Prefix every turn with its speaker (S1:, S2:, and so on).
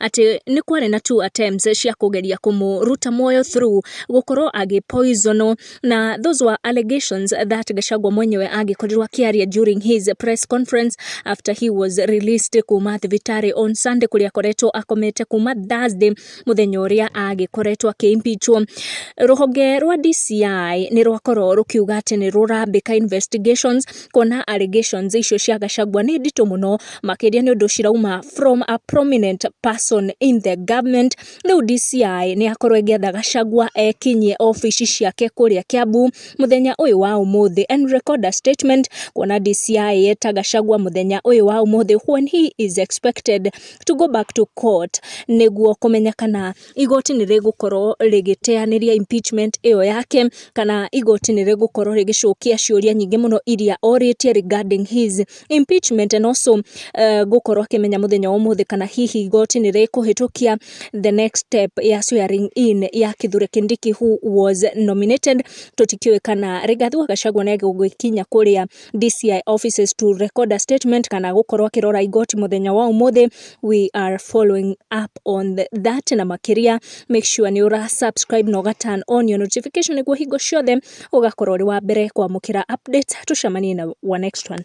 S1: atĩ nĩ kwarĩ na two attempts cia kũgeria kũmũruta muoyo through gũkorwo agĩ poison wo, na those were allegations that Gachagua mwenyewe angĩkorirwo akĩaria during his press conference after he was released kuma thibitarĩ on Sunday kũrĩa akoretwo akomete kuma Thursday mũthenya ũrĩa agĩkoretwo akĩ impeach wo. Rũhonge rwa DCI nĩ rwakorwo rũkiuga atĩ nĩ rũrambĩka investigations kuona allegations icio cia Gachagua nĩ nditũ mũno. makĩria nĩ ũndũ cirauma from a prominent person in the government. Rĩu DCI nĩ yakorwo ĩgĩetha Gachagua ekinyie obici ciake kũrĩa Kiambu mũthenya ũyũ wa ũmũthĩ and record a statement kuona DCI yeta Gachagua mũthenya ũyũ wa ũmũthĩ when he is expected to go back to court nĩguo kũmenya kana igoti nĩ rĩgũkorwo rĩgĩteanĩria impeachment ĩyo yake, kana igoti nĩ rĩgũkorwo rĩgĩcokia ciũria nyingĩ mũno iria orĩtie regarding his impeachment and also gũkorwo akĩmenya mũthenya wa ũmũthĩ kana hihi igoti nĩ rĩkũhĩtũkia the next step ya swearing in ya Kithure Kindiki who was nominated, tũtikĩũĩ kana Rigathi wa Gachagua nĩ egũgĩkinya kũrĩa. DCI offices to record a statement kana gũkorwo akĩrora igoti mũthenya wa ũmũthĩ we are following up on the, that na makĩria make sure nĩ ũra subscribe na ũga turn on your notification nĩguo hingo ciothe ũgakorwo ũrĩ wa mbere kwamũkĩra update tũcemanie na wa next one